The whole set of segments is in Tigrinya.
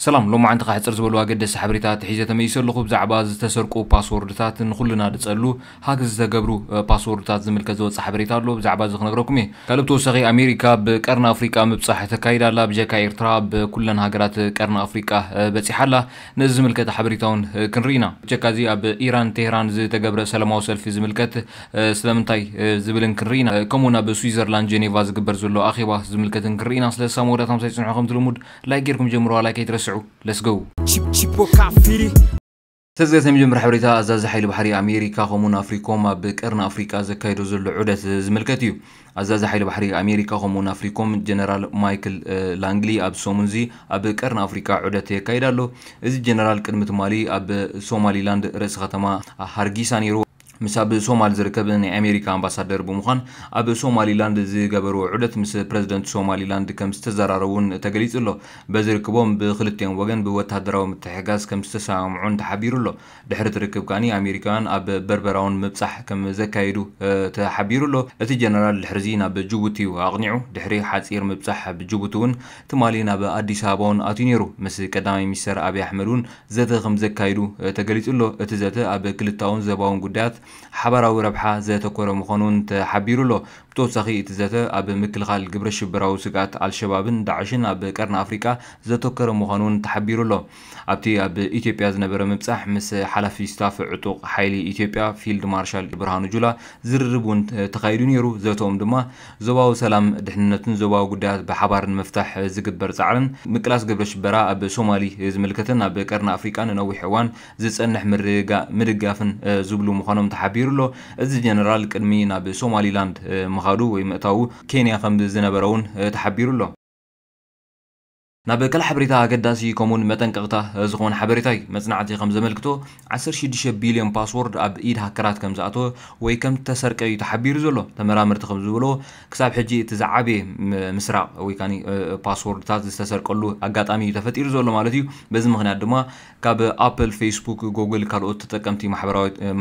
ሰላም ሎማዓንቲ ከኣ ሕጽር ዝበሉ ኣገደስቲ ሓበሬታታት ሒዘ ተመኢሰ ኣለኹ ብዛዕባ ዝተሰርቁ ፓስዎርድታት ንኹልና ድጸሉ ሃክ ዝተገብሩ ፓስዎርድታት ዝምልከት ዝወጸ ሓበሬታ ኣሎ ብዛዕባ እዚ ክነግረኩም እየ ካልእ ብተወሳኺ ኣሜሪካ ኣብ ቀርኒ ኣፍሪቃ ምብጻሕ ተካይድ ኣላ ብጀካ ኤርትራ ኣብ ኩለን ሃገራት ቀርኒ ኣፍሪቃ በጺሓ ኣላ ነዚ ዝምልከት ሓበሬታ ውን ክንርኢ ኢና ብጀካ እዚ ኣብ ኢራን ቴህራን ዝተገብረ ሰላማዊ ሰልፊ ዝምልከት ስለምንታይ ዝብልን ክንርኢ ኢና ከምኡ ውን ኣብ ስዊዘርላንድ ጀኔቫ ዝግበር ዘሎ ኣኼባ ዝምልከትን ክንርኢ ኢና ስለዚ ሳብ መወዳእታ ምሳይ ጽንሑ ከም ትልሙድ ላይክ ጌርኩም ጀምርዋ ላይክ ኣይትረስዑ ለስ ጎው ተዝገተ መጀመር ሓበሬታ ኣዛዚ ሓይሊ ባሕሪ ኣሜሪካ ከምኡውን ኣፍሪኮም ኣብ ቀርኒ ኣፍሪቃ ዘካይዶ ዘሎ ዑደት ዝምልከት እዩ ኣዛዚ ሓይሊ ባሕሪ ኣሜሪካ ከምኡውን ኣፍሪኮም ጀነራል ማይክል ላንግሊ ኣብ ሰሙን እዚ ኣብ ቀርኒ ኣፍሪቃ ዑደት የካይድ ኣሎ እዚ ጀነራል ቅድሚ ትማሊ ኣብ ሶማሊላንድ ርእሲ ከተማ ሃርጊሳ ነይሩ ምስ ኣብ ሶማል ዝርከብ ናይ ኣሜሪካ ኣምባሳደር ብምዃን ኣብ ሶማሊላንድ ዝገበርዎ ዑደት ምስ ፕረዚደንት ሶማሊላንድ ከምዝተዘራረቡን ተገሊጹ'ሎ። በዚ ርክቦም ብኽልቲኦም ወገን ብወተሃደራዊ ምትሕግጋዝ ከምዝተሰማምዑን ተሓቢሩ'ሎ። ድሕሪ'ቲ ርክብ ከኣ ኣሜሪካውያን ኣብ በርበራ'ውን ምብጻሕ ከምዘካየዱ ተሓቢሩ'ሎ። እቲ ጀነራል ድሕሪ'ዚ ናብ ጅቡቲ'ዩ ኣቕኒዑ። ድሕሪ ሓጺር ምብጻሕ ኣብ ጅቡቲ'ውን ትማሊ ናብ ኣዲስ ኣበባ'ውን ኣትዩ ነይሩ። ምስ ቀዳማይ ሚኒስተር ኣብይ ኣሕመድ'ውን ዘተ ከምዘካይዱ ተገሊፁ'ሎ። እቲ ዘተ ኣብ ክልታውን ዘባውን ጉዳያት ሓባራዊ ረብሓ ዘተኮረ ምዃኑ እውን ተሓቢሩ'ሎ። ብተወሳኺ እቲ ዘተ ኣብ ምክልኻል ግብረሽበራዊ ስግኣት ኣልሸባብን ዳዕሽን ኣብ ቀርኒ ኣፍሪቃ ዘተኮረ ምዃኑ እውን ተሓቢሩ'ሎ። ኣብቲ ኣብ ኢትዮጵያ ዝነበረ ምብጻሕ ምስ ሓላፊ ስታፍ ዕጡቕ ሓይሊ ኢትዮጵያ ፊልድ ማርሻል ብርሃኑ ጁላ ዝርርብ እውን ተኻይዱ ነይሩ። ዘተኦም ድማ ዞባዊ ሰላም፣ ድሕንነትን ዞባዊ ጉዳያት ብሓባር ንምፍታሕ ዝግበር ጻዕርን ምቅላስ ግብረ ሽበራ ኣብ ሶማሊ ዝምልከትን ኣብ ቀርኒ ኣፍሪቃ ንነዊሕ እዋን ዝጸንሕ ምርግጋእ ምድጋፍን ዝብሉ ምዃኖም ተሓቢሩ ኣሎ። እዚ ጀነራል ቅድሚ ናብ ሶማሊላንድ ምኻዱ ወይ ምእታዉ ኬንያ ከም ዝነበረ'ውን ተሓቢሩ ኣሎ። ናብ ክል ሓበሬታ ኣገዳሲ ከምኡውን መጠንቀቕታ ዝኸውን ሓበሬታ እዩ። መጽናዕቲ ከም ዘመልክቶ ዓሰርተ ሽዱሽተ ቢልዮን ፓስዎርድ ኣብ ኢድ ሃከራት ከም ዝኣተወ ወይ ከም እተሰርቀ እዩ ተሓቢሩ ዘሎ። ተመራመርቲ ከም ዝበልዎ ክሳብ ሕጂ እቲ ዝዓበየ ምስራቕ ወይ ከኣ ፓስዎርድታት ዝተሰርቀሉ ኣጋጣሚ እዩ ተፈጢሩ ዘሎ ማለት እዩ። በዚ ምኽንያት ድማ ካብ ኣፕል፣ ፌስቡክ፣ ጎግል ካልኦት ተጠቀምቲ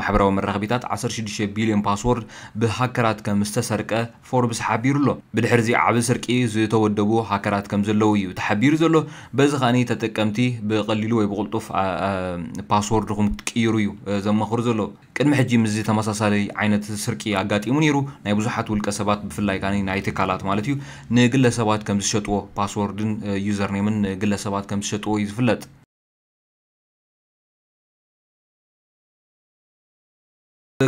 ማሕበራዊ መራኸቢታት ዓሰርተ ሽዱሽተ ቢልዮን ፓስዎርድ ብሃከራት ከም ዝተሰርቀ ፎርብስ ሓቢሩ'ሎ። ብድሕሪ'ዚ ዓቢ ስርቂ ዝተወደቡ ሃከራት ከምዘለዉ እዩ ተሓቢሩ ዘሎ። በዚ ከኣ ተጠቀምቲ ብቐሊሉ ወይ ብቕልጡፍ ፓስዎርድኹም ክትቅይሩ እዩ ዘማኽሩ ዘሎ። ቅድሚ ሕጂ ምስዚ ተመሳሳሊ ዓይነት ስርቂ ኣጋጢሙ ነይሩ። ናይ ብዙሓት ውልቀሰባት ብፍላይ ከኣ ናይ ትካላት ማለት እዩ ንግለሰባት ከምዝሸጥዎ ፓስዎርድን ዩዘርኔምን ንግለሰባት ከምዝሸጥዎ እዩ ዝፍለጥ።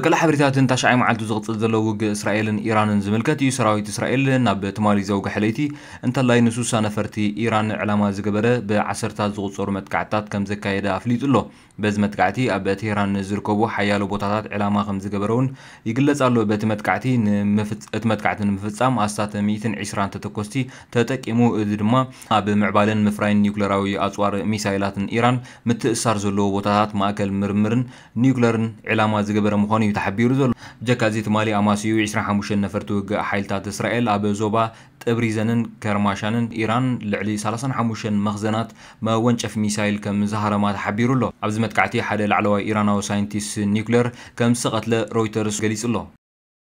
ቀለዕ ሓበሬታትን ታሽዓይ መዓልቱ ዝቕጽል ዘሎ ውግእ እስራኤልን ኢራንን ዝምልከት እዩ። ሰራዊት እስራኤል ናብ ትማሊ ዘውግሐ ለይቲ እንተላይ ንሱሳ ነፈርቲ ኢራን ዕላማ ዝገበረ ብዓሰርታት ዝቑጸሩ መጥቃዕትታት ከምዘካየደ ኣፍሊጡ ኣሎ። በዚ መጥቃዕቲ ኣብ ቴህራን ንዝርከቡ ሓያሎ ቦታታት ዕላማ ከምዝገበረ'ውን ይግለጽ ኣሎ። በቲ መጥቃዕቲ እቲ መጥቃዕቲ ንምፍጻም ኣስታት ሚእትን ዒስራን ተተኮስቲ ተጠቂሙ፣ እዚ ድማ ኣብ ምዕባለን ምፍራይን ኒዩክለራዊ ኣጽዋር ሚሳይላትን ኢራን ምትእስሳር ዘለዎ ቦታታት ማእከል ምርምርን ኒዩክለርን ዒላማ ዝገበረ ምዃኑ'ዩ ተሓቢሩ ዘሎ። ብጀካ እዚ ትማሊ ኣማስይኡ ዕስራን ሓሙሽተን ነፈርቲ ውግእ ሓይልታት እስራኤል ኣብ ዞባ ጥብሪዘንን ከርማሻንን ኢራን ልዕሊ ሰላሳን ሓሙሽተን መኽዘናት መወንጨፊ ሚሳይል ከም ዝሃረማ ተሓቢሩ'ሎ። ኣብዚ መጥቃዕቲ ሓደ ላዕለዋይ ኢራናዊ ሳይንቲስ ኒዩክለር ከም ዝተቐትለ ሮይተርስ ገሊጹ'ሎ።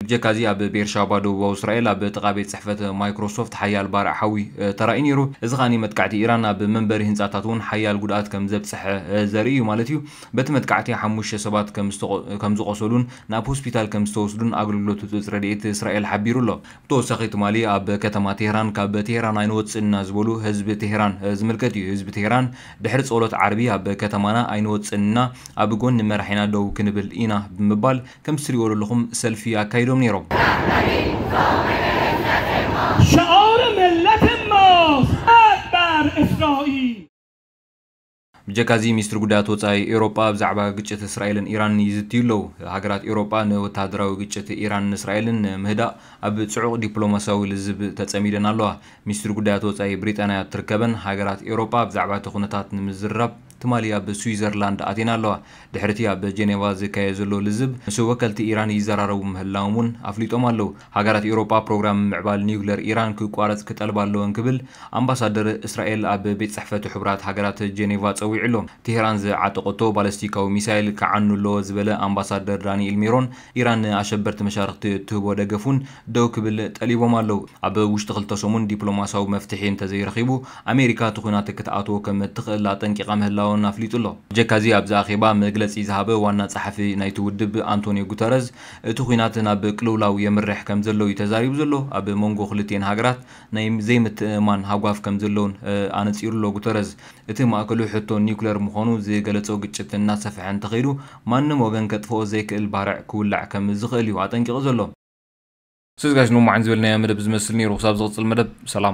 ብጀካ'ዚ ኣብ ቤርሻባ ደቡባዊ እስራኤል ኣብ ጥቓ ቤት ጽሕፈት ማይክሮሶፍት ሓያል ባርዕ ሓዊ ተራእዩ ነይሩ። እዚ ከኣ መጥቃዕቲ ኢራን ኣብ መንበሪ ህንጻታት'ውን ሓያል ጉድኣት ከም ዘብጽሐ ዘርኢ እዩ ማለት እዩ። በቲ መጥቃዕቲ ሓሙሽተ ሰባት ከም ዝቖሰሉን ናብ ሆስፒታል ከም ዝተወስዱን ኣገልግሎት ህጹጽ ረድኤት እስራኤል ሓቢሩ ኣሎ። ብተወሳኺ ትማሊ ኣብ ከተማ ቴህራን ካብ ቴህራን ኣይንወጽእን ኢና ዝበሉ ህዝቢ ቴህራን ዝምልከት እዩ። ህዝቢ ቴህራን ድሕሪ ጸሎት ዓርቢ ኣብ ከተማና ኣይንወጽእን ኢና፣ ኣብ ጎኒ መራሒና ደው ክንብል ኢና ብምባል፣ ከም ትሪእዎ ደለኹም ሰልፊ ኣካይዶም ነይሮም። ሸኦር ምለት ሞስ ኣድባር እስራኢል። ብጀካ እዚ ሚኒስትሪ ጉዳያት ወጻኢ ኤውሮጳ ብዛዕባ ግጭት እስራኤልን ኢራንን ይዝትዩ ኣለዉ። ሃገራት ኤውሮጳ ንወተሃደራዊ ግጭት ኢራንን እስራኤልን ንምህዳእ ኣብ ጽዑቕ ዲፕሎማስያዊ ልዝብ ተጸሚደን ኣለዋ። ሚኒስትሪ ጉዳያት ወጻኢ ብሪጣንያ እትርከበን ሃገራት ኤውሮጳ ብዛዕባ እቲ ኩነታት ንምዝርራብ፣ ትማሊ ኣብ ስዊዘርላንድ ኣትየን ኣለዋ። ድሕሪ'ቲ ኣብ ጀኔቫ ዝካየድ ዘሎ ልዝብ፣ ምስ ወከልቲ ኢራን ይዘራረቡ ምህላዎም'ውን ኣፍሊጦም ኣለዉ። ሃገራት ኤውሮጳ ፕሮግራም ምምዕባል ኒዩክለር ኢራን ክቋረጽ ክጠልባ ኣለወን ክብል ኣምባሳደር እስራኤል ኣብ ቤት ጽሕፈት ሕቡራት ሃገራት ጀኔቫ ጸዊዑ'ሎ። ቴህራን ዝዓጠቐቶ ባለስቲካዊ ሚሳይል ክዓኑ ኣለዎ ዝበለ ኣምባሳደር ዳኒኤል ሜሮን፣ ኢራን ንኣሸበርቲ መሻርኽቲ እትህቦ ደገፍ እውን ደው ክብል ጠሊቦም ኣለው። ኣብ ውሽጢ ክልተ ሰሙን ዲፕሎማስያዊ መፍትሒ እንተዘይረኺቡ፣ ኣሜሪካ እቲ ኵናት ክትኣትዎ ከም እትኽእል ኣጠንቂቓ ምህላዋ'ውን ኣፍሊጡ ኣሎ። ብጀካ'ዚ ኣብዚ ኣኼባ መግለጺ ዝሃበ ዋና ጸሓፊ ናይቲ ውድብ ኣንቶንዮ ጉተረዝ፣ እቲ ኵናት ናብ ቅልውላው የምርሕ ከም ዘሎ'ዩ ተዛሪቡ ዘሎ። ኣብ መንጎ ክልቲኤን ሃገራት ናይ ዘይምትእምማን ሃጓፍ ከም ዘሎ'ውን ኣነጺሩ'ሎ ጉተረዝ። እቲ ማእከሉ ሕቶ ኒዩክለር ምዃኑ ዝገለጾ ግጭት እናሰፍሐ እንተኸይዱ ማንም ወገን ከጥፍኦ ዘይክእል ባርዕ ክውላዕ ከም ዝኽእል እዩ ኣጠንቂቑ ዘሎ። ሰዝጋሽ ሎማዕን ዝበልናዮ መደብ ዝመስል ነይሩ ክሳብ ዝቕጽል መደብ ሰላም።